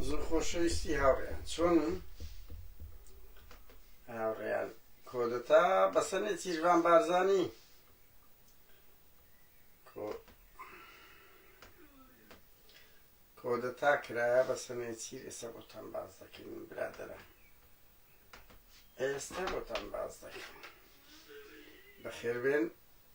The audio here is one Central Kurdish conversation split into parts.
زۆر خۆشەویستی هاوڕێیان چۆن هاوڕێیان کۆدەتا بەسەنێ تیرڤان بارزانی کۆدەتا کرایە بە سەنێ چیر ئێستا بۆتان باز دەکەین برادرە ئێستا بۆتان باز دەکەین بەخێربێن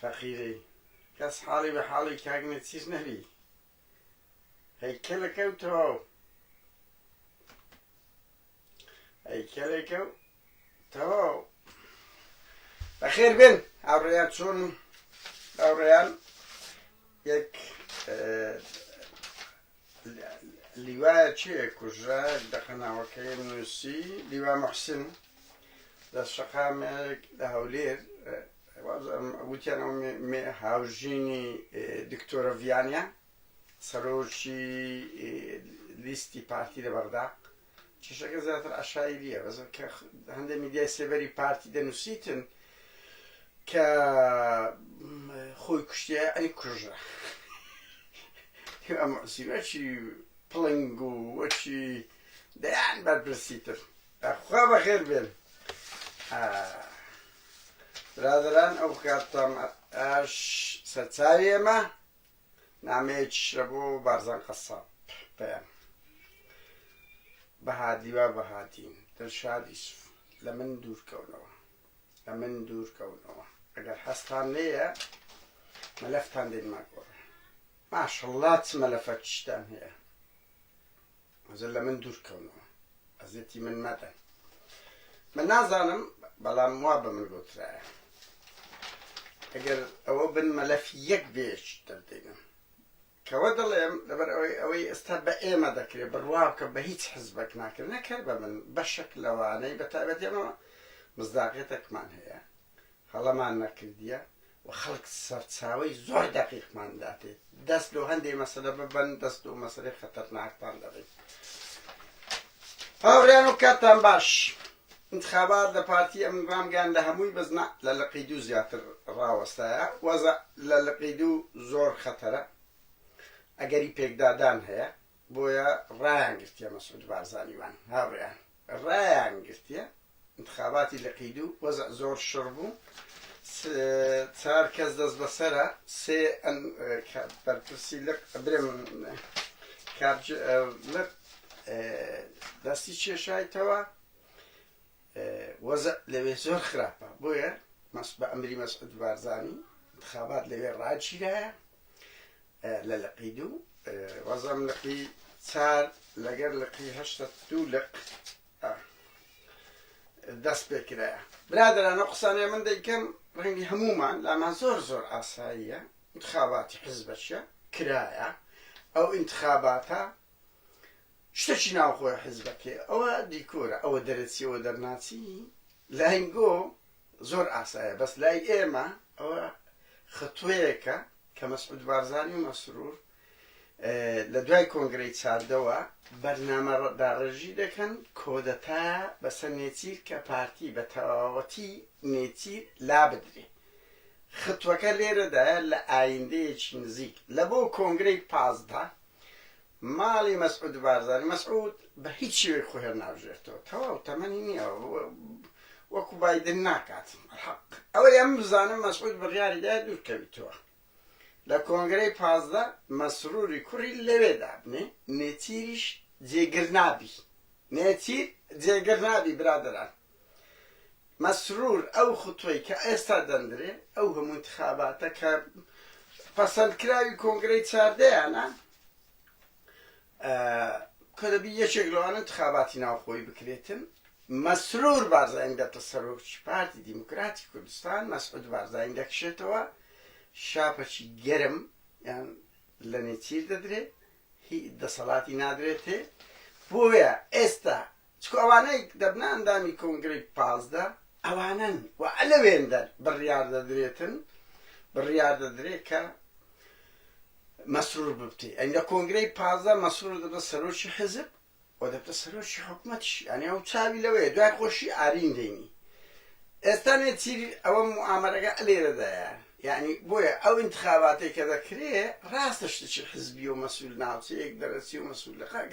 فەقیرەی کەس حاڵی بە حاڵی کاک نەچیر نەبی هەیکەلەکە و تەواو هەیکەلەکە و تەواو بەخێر بێن هاوڕێیان چۆن هاوڕێیان یەک لیوا چێ کوژرا دەقە ناوەکەی نووسی لیوا محسن لە شەقامێک لە هەولێر وتیان ئەو هاوژینی دکتۆرە ڤیانە سەرۆکی لیستی پارتی لە بەغدا کێشەکە زیاتر عەشایریە بەس کە هەندێک میدیای سێبەری پارتی دەنووسیتن کە خۆی کوشتە ئەنی کوژە ئەم سیوەچی پڵنگ و وەچی دەیان بەرپرسیتر خوا بەخێر بێن برادران ئەو کاتتان ئاش سەرچاوی ئێمە نامەیەکیش لە بۆ بارزان قەساب پەیام بەهادی وا بەهادین دڵشاد ئیسف لە من دوورکەونەوە لە من دوورکەونەوە ئەگەر هەستان لێیە مەلەفتان دێنمە گۆڕێ ماشەڵڵا چ مەلەفەکیشتان هەیە ئەجە لە من دوور کەونەوە ئەزێتی من مەدەن من نازانم بەڵام وا بە من گوترایە ئەگەر ئەوە بن مەلەف یەک بێش دەردەینم کەوە دەڵێم لەبەر ئەوەی ئەوەی ئێستا بە ئێمە دەکرێت بڕواکە بە هیچ حزبەک ناکرێت نەکەر بە من بەشک لەوانەی بەتابەتێمەوە مزداقێتەکمان هەیە هەڵەمان نەکردیە و خەڵک سەرچاوەی زۆر دەقیقمان داتێ دەست لۆ هەندێ مەسەلە ببەن دەست لۆ مەسەلەی خەتەرناکتان دەبەین هاوڕیان و کاتتان باش انتخابات لە پارتی ئەم رامگەیان لە هەمووی بەزنا لە لقی دوو زیاتر ڕاوەستایە وەزە لە لقی دوو زۆر خەتەرە ئەگەری پێکدادان هەیە بۆیە ڕایانگرتیە مەسعود بارزانی وان هاوریان ڕایانگرتیە انتخاباتی لقی دوو وەزع زۆر شڕ بوو چار کەس دەست بەسەرە سێ بەرپرسی لق برم کابج لق دەستی چێشایتەوە وەزع لەوێ زۆر خراپە بۆیە بە ئەمری مەسعود بارزانی انتخابات لەوێ ڕاگیرایە لە لقی دوو وەزم لقی چار لەگەر لقی هەشتە دوو لق دەست پێ کرایە برادرانە قسانێ من دەیکەم ڕەنگی هەمومان لامان زۆر زۆر ئاساییە انتخاباتی حزبەشە کرایە ئەو انتخاباتە شتەکی ناوخۆی حیزبەکەی ئەوە دیکۆرە ئەوە دەرەچی ئەوە دەرناچی لاینگۆ زۆر ئاسایە بەس لای ئێمە ئەوە خطوەیەکە کە مەسعود بارزانانی و مەسرور لە دوای کۆنگرەی چاردەوە بەرنامە داڕێژی دەکەن کۆدەتا بەسەر نێچیر کە پارتی بە تەواوەتی نێچیر لا بدرێ خطوەکە لێرەدایە لە ئایندەیەکی نزیک لە بۆ کۆنگرەی پازدە ماڵی مەسعود بارزانی مەسعود بە هیچ شێوەیەک خۆ هێر ناوژێرتەوە تەواو تەمەنی نییە وەکو بایدن ناکات حەق ئەوەی ئەم بزانم مەسعود بڕیاری دا دوورکەویتەوە لە کۆنگرەی پازدە مەسروری کوڕی لەوێ دابنێ نێچیریش جێگر نابی نێچیر جێگر نابی برادران مەسرور ئەو خوتوەی کە ئێستا دەندرێ ئەو هەموو ئینتخاباتە کە پەسەند کراوی کۆنگرەی چاردەیانە کە دەبی یەکێک لەوانە ئینتخاباتی ناوخۆی بکرێتن مەسرور بارزانین دەبتە سەرۆکی پارتی دیموکراتی کوردستان مەسعود بارزانین دەکشێتەوە شاپەچی گەرم یان لە نێچیر دەدرێ هی دەسەڵاتی نادرێتێ بۆیە ئێستا چکو ئەوانەی دەبنە ئەندامی کۆنگرەی پازدە ئەوانەن و ئەلەوێندەر بڕیار دەدرێتن بڕیار دەدرێت کە مەسرور ببتێ ئەنگە کۆنگرەی پازدە مەسرور دەبە سەرۆکی حزب و دەبتە سەرۆکی حکومەتیش یانی ئەو چاوی لەوەیە دوای خۆشی ئارین دەینی ئێستا نێچیری ئەوە موامەرەگە لێرەدایە یعنی بۆیە ئەو انتخاباتی کە دەکرێ ڕاستە شتێکی حزبی و مەسول ناوچەیەک دەرەچی و مەسول لە خەک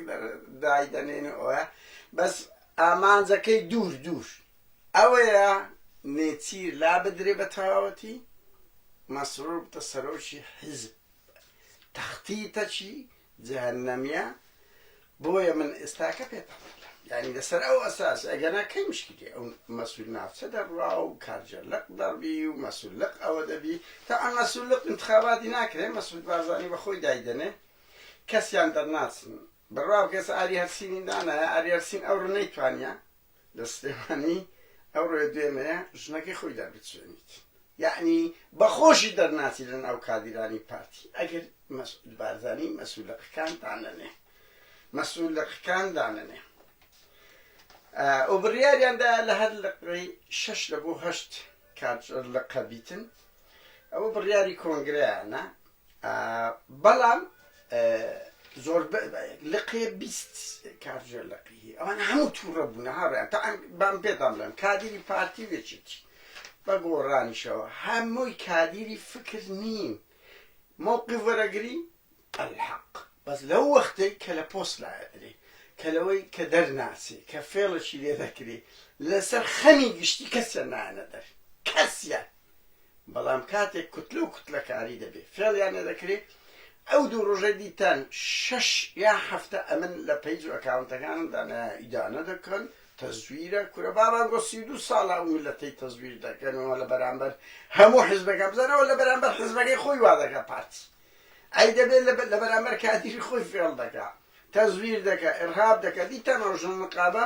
دای دەنێن و ئەوە بەس ئامانجەکەی دوور دوور ئەوەیە نێچیر لا بدرێ بە تەواوەتی مەسرور بتە سەرۆکی حزب تەختیتەکی جەهەنەمیە بۆیە من ئێستاکە پێتان دەڵێم یانی لەسەر ئەو ئەساس ئەگەنا کەی مشکلی ئەو مەسول ناوچە دەڕوا و کارجە لەق دەڕبی و مەسول لەق ئەوە دەبی تا ئەم مەسول لەق انتخاباتی ناکرێ مەسود بارزانانی بەخۆی دایدەنێ کەسیان دەرناچن بڕوا بکەس ئاری هەرسینی دانایە ئاری هەرسین ئەو ڕنەی توانیە لە سلێمانی ئەو ڕێ دوێنەیە ژنەکەی خۆی دەربچێنیت یەعنی بە خۆشی دەرناچی لە ناو کادیرانی پارتی ئەگەر مەسعود بارزانی مەسولەقەکان دانەنێ مەسولەقەکان دانەنێ ئەو بڕیاریاندا لە هەر لەقڕی شەش لە بۆ هەشت کارجەر لە قەبیتن ئەوە بڕیاری کۆنگرەیانە بەڵام زۆر لقێ بیست کارژێر لقی هەیە ئەوان هەموو تووڕە بوونە هاڕیان تا بام پێتان بڵێم کادیری پارتی وێچێتی بە گۆڕانیشەوە هەمووی کادیری فکر نین مووقی وەرەگری الحق بەس لەو وەختەی کە لە پۆست لایەدرێ کە لەوەی کە دەرناچێ کە فێڵەشی لێ دەکرێ لەسەر خەمی گشتی کەسیان نایەنە دەر کەسیان بەڵام کاتێک کوتلە و کوتلەکاری دەبێ فێڵیان لێ دەکرێ ئەو دوو ڕۆژەی دیتان شەش یا حەفتە ئەمن لە پەیج و ئەکاونتەکانمدا نە ئیدانە دەکەن تەزویرە کورە بابان بۆ سی و دوو ساڵە ئەو میلەتەی تەزویر دەکەنەوە لە بەرامبەر هەموو حزبەکە بزانەوە لە بەرامبەر حزبەکەی خۆی وا دەکە پارتی ئەی دەبێت لە بەرامبەر کادیری خۆی فێڵ دەکە تەزویر دەکە ئرهاب دەکە دیتان ئەو ژن نقابە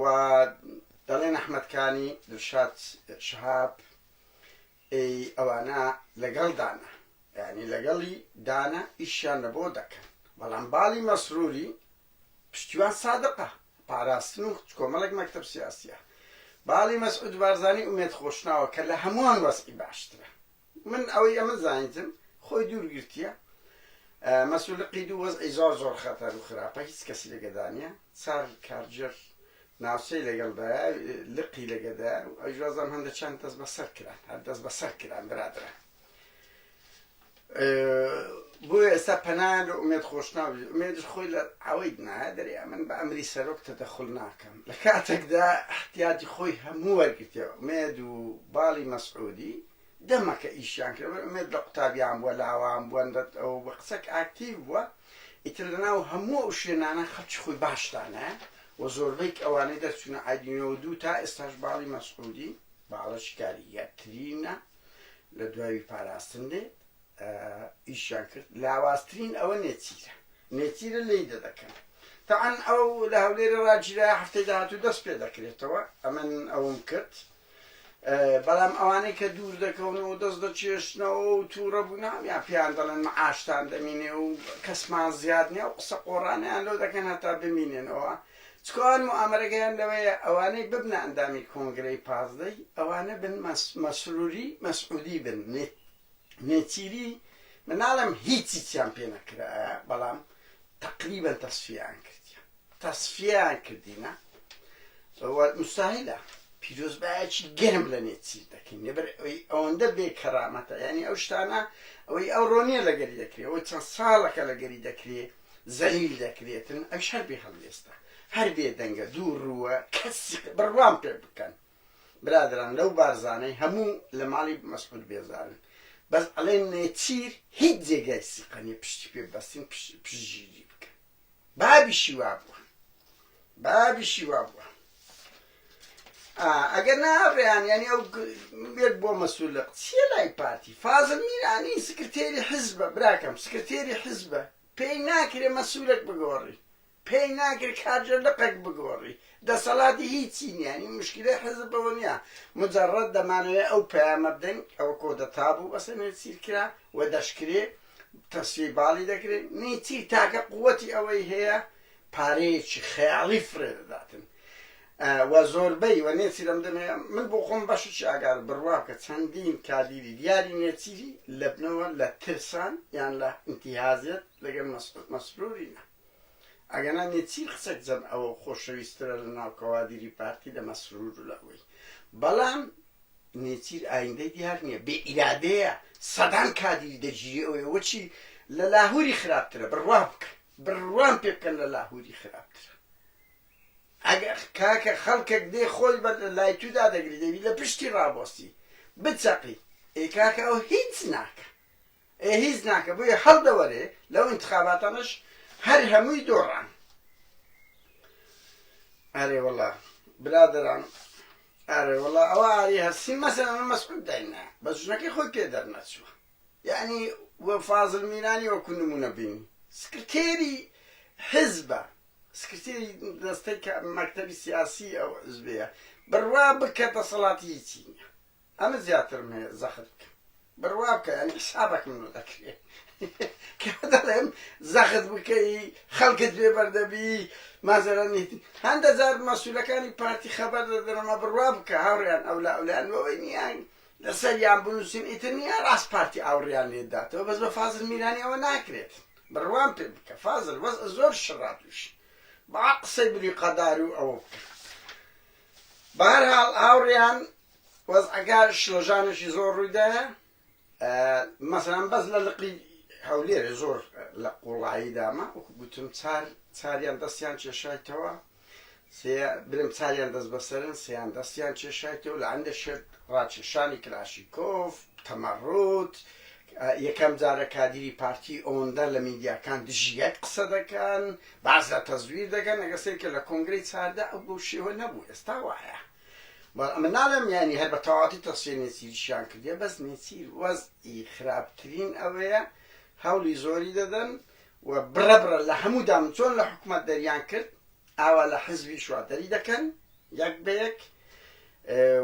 و دەڵێن ئەحمەد کانی دڵشاد شەهاب ئێی ئەوانە لەگەڵ دانە یانی لەگەڵی دانە ئیشیان لە بۆ دەکەن بەڵام باڵی مەسروری پشتیوان سادقە پاراستن و کۆمەڵێک مەکتب سیاسیە باڵی مەسعود بارزانی ئومێد خۆشناوە کە لە هەمووان وەزعی باشترە من ئەوەی ئەمن زانیتم خۆی دوور گرتیە مەسول لقی دوو وەزعی زۆر زۆر خەتەر و خراپە هیچ کەسی لەگەدانە چار کارجر ناوچەی لەگەڵدا لقی لەگەدا و ئەو جوازم هەندە چەند دەست بەسەر کران هەر دەست بەسەر کران برادرە بۆ ئێستا پەنایان لە ئومێد خۆشناوی ئومێدش خۆی لە ئەوەی نایە دەرێ ئەمن بە ئەمری سەرۆک تەدەخل ناکەم لە کاتێکدا احتیاجی خۆی هەموو وەرگتیەوە ئومێد و باڵی مەسعودی دەمەکە ئیشیان کرد بەر ئومێد لە قوتابیان بووە لە هەوان بووە ندەت ئەوە بووە قسەک ئاکتیڤ بووە ئیتر لە ناو هەموو ئەو شوێنانە خەڵکی خۆی باش دانایە و زۆربەیک ئەوانەی دەرچوونە ئایدی نۆ دوو تا ئێستاش باڵی مەسعودی باڵە شکاری یەکترینە لە دوای پاراستن دێت ئیشیان کرد لاوازترین ئەوە نێچیرە نێچیرە لی دەدەکەن تەعەن ئەو لە هەولێرە ڕاگیرا هەفتەی داهاتوو دەست پێ دەکرێتەوە ئەمن ئەوم کرد بەڵام ئەوانەی کە دوور دەکەون و دەست دەچێشنەوە و تووڕە بوون هەمیان پێیان دەڵێن معاشتان دەمینێ و کەسمان زیاد نیە و قسە قۆڕانەیان لۆ دەکەن هەتا بمینێنەوە چکۆ ئەوان موئامەرەگەیان لەوەیە ئەوانەی ببنە ئەندامی کۆنگرەی پازدەی ئەوانە بن مەسروری مەسعودی بن نێچیری من ناڵێم هیچیچیان پێ نەکرایە بەڵام تەقریبەن تەسفیەیان کردیە. تەسفیەیان کردینە و مستاهیلە پیرۆزبایەکی گەرم لە نێچیر دەکەین لەبەر ئەوی ئەوەندە بێ کەرامەتە یعنی ئەو شتانە ئەوەی ئەو ڕۆنیە لەگەری دەکرێت ئەوەی چەند ساڵەکە لەگەری دەکرێت زەلیل دەکرێتن ئەوش هەر بێ هەڵوێستە هەر بێ دەنگە دوو ڕووە کەسی بڕوام پێ بکەن برادران لەو بارزانەی هەموو لە ماڵی مەسعود بێزارن بەس ئەڵێن نێچیر هیچ جێگای سیقە نیە پشتی پێ بەستین پشت پشتگیری بکەن بابیشی وابووە بابیشی وابووە ئەگەر نا ڕێیان ینی ئەو بێت بۆ مەسولق چیە لای پارتی فازل میرانی سکرتێری حزبە براکەم سکرتێری حزبە پێی ناکرێ مەسولک بگۆڕی پێی ناکرێت کارجە لقەک بگۆڕی دەسەڵاتی هیچی نیانی مشکلی حزب بەوە نیە مجرڕەت دەمانەوێت ئەو پەیامە بدەین ئەوە کۆدەتا بوو بەسەنێ سیرکرا و دەشکرێ تەسفیەی باڵی دەکرێ، میتی تاکە قووتی ئەوەی هەیە پارەیەکی خەیاڵی فڕێ دەداتن و زۆربەی و نێچیر ئەم دەمەیە من بۆ خۆم بەشێکی ئاگار بڕوا بکە چەندین کادیری دیاری نێچیری لەبنەوە لە ترسان یان لە ئینتیهازیەت لەگەڵ مەسروری نە. ئەگەنا نێچیر قسەک جەم ئەوەو خۆشەویسترە لە ناو کەوادیری پارتی لە مەسرور و لە ئەوەی بەڵام نێچیر ئایندەی دیار نیە بێ ئیرادەیە سەدان کادیری دەگیری ئەوەی ئەوە چی لە لاهوری خراپترە بڕوا بکەن بڕوام پێ بکەن لە لاهوری خراپترە ئەگە کاکە خەڵکەک دێ خۆی بە لای تودا دەگری دەبی لە پشتی ڕابۆستی بچەقی ئێ کاکە ئەو هیچ ناکە ئێ هیچ ناکە بۆیە هەڵدەوەرێ لەو ئینتخاباتانەش هەر هەمووی دۆڕان ئەرێ وەڵا برادران ئەرێ وەڵا ئەوە ئاری هەستی مەسەن ئەمە مەسعود داینا بە ژنەکەی خۆی پێ دەرنەچوە یعنی وە فازل میرانی وەکو نمونە بین سکرتێری حزبە سکرتێری دەستەی مەکتەبی سیاسی ئەو حزبەیە بڕوا بکە دەسەڵاتی هیچی نیە ئەمن زیاترم هەیە زەخت بکەم بڕوا بکە یانی حسابەکم لۆ دەکرێ کە دەڵێم زەخت بکەی خەڵکت بێ بەردەبی مازەرە نیتی هەندە جار مەسوولەکانی پارتی خەبەر دەدەنەمە بڕوا بکە هاوڕیان ئەو لا ئەولیان بەوەی نیان لەسەر یان بنووسین ئیتر نیە ڕاست پارتی ئاوڕیان لێداتەوە بەس بە فازل میرانی ئەوە ناکرێت بڕوام پێ بکە فازل بەس زۆر شڕا تووش با قسەی بری قەدار و ئەوە بکە بەهرحاڵ هاوڕیان وەزعەکە شڵەژانێکی زۆر ڕوویدایە مەسەلەن بەس لە لقی هەولێرێ زۆر لە قوڵایی دامە وەکو گوتم چار چاریان دەستیان کێشایتەوە برم چاریان دەست بەسەرن سیان دەستیان کێشایتەوە لە ئەندە شێت ڕاکێشانی کلاشیکۆف تەمەڕوت یەکەم جارە کادیری پارتی ئەوەندە لە میدیاکان دژی یەک قسە دەکەن باز لە تەزویر دەکەن ئەگەسێک کە لە کۆنگری چاردە ئەو بۆ شێوە نەبوو ئێستا وایە بەڵام من ناڵێم یانی هەر بە تەواوەتی تەسفیە نێچیریشیان کردیە بەس نێچیر وەزعی خراپترین ئەوەیە هەوڵی زۆری دەدەن و بڕە بڕە لە هەموو دام چۆن لە حکوومەت دەریان کرد ئاوا لە حزبی شوا دەری دەکەن یەک بە یەک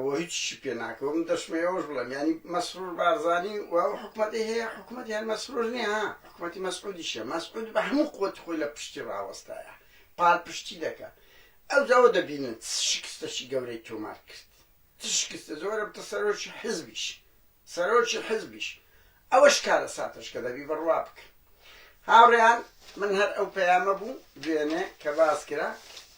و هیچی پێ ناکەوە من دەشمەوەش بڵێم ینی مەسرور بارزانانی و ئەو حکوومەتی هەیە حکوومەت هەر مەسرور نیە حکوومەتی مەسعودیشە مەسعود بە هەموو قوت خۆی لە پشتی ڕاوەستایە پاڵپشتی دەکە ئەوجا ئەوە دەبینن چ شکستەکی گەورەی تۆمار کرد، چ شکستە زۆرە بتە سەرۆکی حیزبیش، سەرۆکی حیزبیش ئەوەش کارەساتەش کە دەبی بڕوا بکەن. هاوڕێیان من هەر ئەو پەیامە بوو دوێنێ کە باس کرا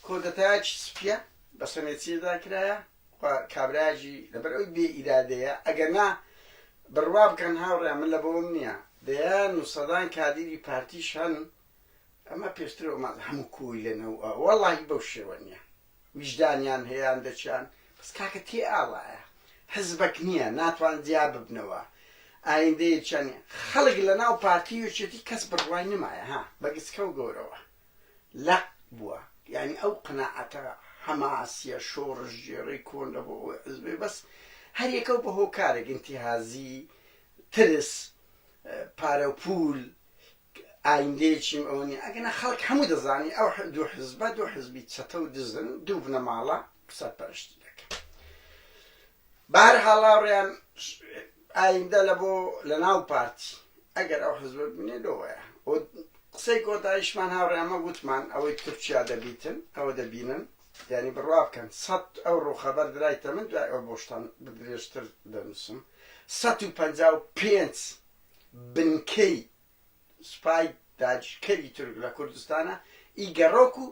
کۆدەتایەکی سپیە بە سەمێتیدا کرایە و کابرایەکی لەبەر ئەوی بێ ئیرادەیە ئەگەر نا بڕوا بکەن هاوڕێیان من لە بۆم نییە دەیان و سەدان کادیری پارتیش هەن ئەمە پێشتر ئەمان هەموو کۆیلەنە و وەڵاهی بەو شێوە نییە ویژدانیان هەیان دەچیان بەس کاکە تێ ئاوایە حزبەک نییە ناتوان جیا ببنەوە ئایندەیە چەند خەڵک لە ناو پارتی یەکێتی کەس بڕوای نمایە ها بە گچکە و گەورەوە لە بووە یعنی ئەو قەناعەتە حەماسیە شۆڕش گێڕی کۆن لە بۆ ئەوەی حزبێ بەس هەریەکە و بە هۆکارێک ئینتیهازی ترس پارە و پول ئایندەیەکیم ئەوە نیە ئەگەنا خەڵک هەموو دەزانی ئەو دوو حزبە دوو حزبی چەتە و دزن دوو بنەماڵە سەرپەرشتی دەکەن بەهەرحاڵ هاوڕێیان ئایندە لە بۆ لە ناو پارتی ئەگەر ئەو حزبە ببینێ لۆوەیە و قسەی کۆتایشمان هاوڕێیان مە وتمان ئەوەی تورکیا دەبیتن ئەوە دەبینن یعنی بڕوا بکەن سەد ئەو ڕووخەبەر درایتە من دوای ئەو بۆشتان بدرێژتر دەنووسم سەد و پەنجا و پێنج بنکەی سوپای داگیرکەری تورک لە کوردستانە ئی گەڕۆک و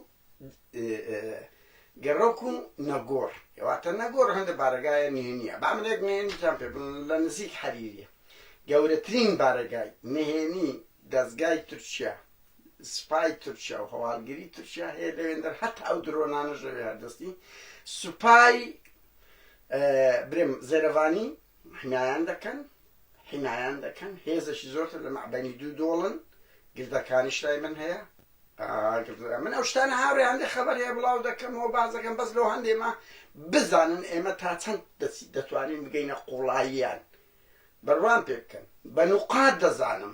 گەڕۆک و نەگۆڕ واتە نەگۆڕ هەندە بارەگایە نهێنیە با من یەک نهێنیتان پێ بڵێم لە نزیک حەریریە گەورەترین بارەگای نهێنی دەزگای تورکیا سوپای تورکیا و هەواڵگری تورکیا هەیە لەوێندەر هەتا ئەو درۆنانەش لەوێ هەردەستی سوپای برێم زێرەڤانی حمایان دەکەن حمایان دەکەن هێزەکی زۆرتر لە مەعدەنی دوو دۆڵن گردەکانیش لای من هەیە من ئەو شتانە هاوێ هەندێک خەبەر هەیە بڵاو دەکەمەوە باز دەکەم بەس لەو هەندێمە بزانن ئێمە تا چەند دەتوانین بگەینە قوڵاییان بەروان پێ بکەن بە نقاط دەزانم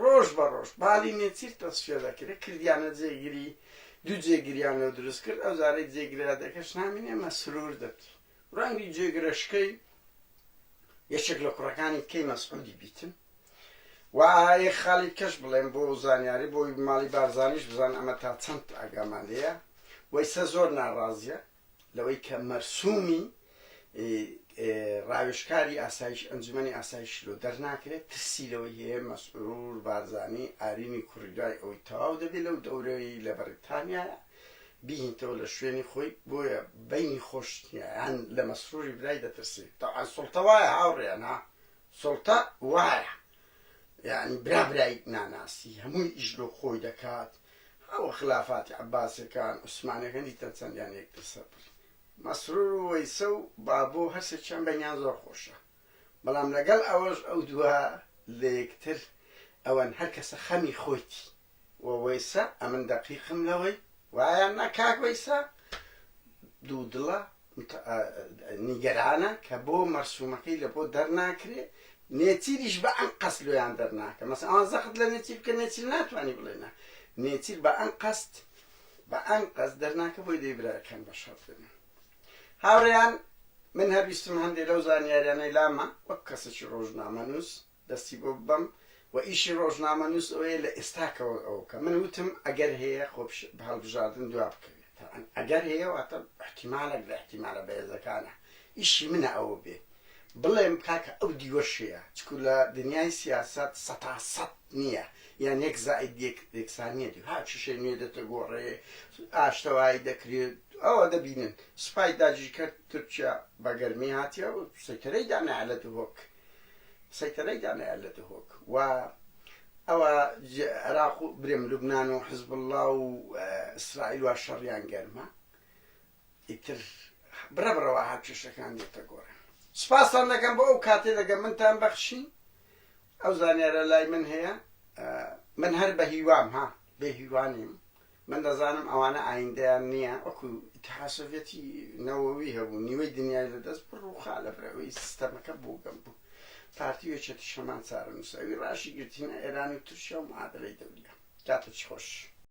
ڕۆژ بە ڕۆژ بالی نێچیر تەسفیە دەکرێت کردیانە جێگری دوو جێگریانەوە دروست کرد ئەو زارەی جێگرادەکەش نامین ئێمە سرور دەبی ڕەنگی جێگرەشکەی یەکێک لە کوڕەکانی کەی مەسعودی بیتن وایە خالی کەش بڵێن بۆ زانیاری بۆی ماڵی بارزانیش بزان ئەمە تا چەند ئاگامان لەیە وەیسە زۆر ناڕازیە لەوەی کە مەرسومی ڕاوێژکاری ئاسایش ئەنجومەنی ئاسایشی لۆ دەرناکرێت ترسی لەوەی هەیە مەسرور بارزانی ئارینی کوڕی دوای ئەوەی تەواو دەبێت لەو دەورەی لە بەڕیتانیایە بیهینتەوە لە شوێنی خۆی بۆیە بینی خۆش نییە یان لە مەسروری برای دەترسی تەوان سوڵتە وایە هاوڕێیان ها سوڵتە وایە یانی برا برای ناناسی هەمووی ئیش لۆ خۆی دەکات هاوە خلافاتی عەباسیەکان عوسمانەکان دیتە چەندیان یەک تر سەر بڕی مەسرور و وەیسە و بابۆ هەر سێکیان بەینیان زۆر خۆشە بەڵام لەگەڵ ئەوەش ئەو دووە لە یەکتر ئەوەن هەر کەسە خەمی خۆیتی. وە وەیسە ئەمن دەقیقم لەوەی وایە نا کاک وەیسە دوو دڵە نیگەرانە کە بۆ مەرسومەکەی لە بۆ دەرناکرێ نێچیریش بە ئەنقەست لۆیان دەرناکە مەسە ئەوان زەخت لە نێچیر بکە نێچیر ناتوانانی بڵێ نا نێچیر بە ئەنقەست بە ئەنقەست دەرناکە بۆی دەی براکەم بە شەڕ بێنن هاوڕێیان من هەر ویستم هەندێک لەو زانیاریانەی لامە وەک کەسێکی ڕۆژنامەنووس دەستی بۆ ببەم و ئیشی ڕۆژنامەنووس ئەوەیە لە ئێستاکەوە ئەوە بکە. من وتم ئەگەر هەیە خۆ هەڵبژاردن دوا بکەوێت. تەبعەن ئەگەر هەیە واتە ئیحتیمالەک لە ئیحتیمالە بەهێزەکانە. ئیشی منە ئەوە بێ بڵێم کاکە ئەو دیوەش هەیە. چکو لە دنیای سیاسەت سەتا سەت نییە. یان یەک زائید یەک یەکسان نییە. دو هاو کیشەی نوێ دەتەگۆڕێ، ئاشتەوایی دەکرێت. ئەوە دەبینن سوپای داگیرکەر تورکیا بە گەرمی هاتیە و سەیتەرەی دانایە لە دهۆک. سەیتەرەی دانایە لە دهۆک و ئەوە عێراق و برێم لوبنان و حزب اللە و ئیسرائیل وا شەڕیان گەرمە ئیتر بڕە بڕەوە هات کێشەکان دێتە گۆڕێ سپاستان دەکەم بۆ ئەو کاتێ دەگەم منتان بەخشی ئەو زانیارە لای من هەیە من هەر بە هیوام ها بێ هیوانیم من دەزانم ئەوانە ئایندەیان نیە وەکو ئیتحاد سۆڤیەتی نەوەوی هەبوو نیوەی دنیای لە دەست بڕ ڕوخا لە بەرەوەی سیستەمەکە بوگەم بوو پارتی و یەکێتیش هەمان چارەنوسە ئەوی ڕاشی گرت هینا ئێران و تورکیا و معادەلەی دەوریا کاتەچی خۆش.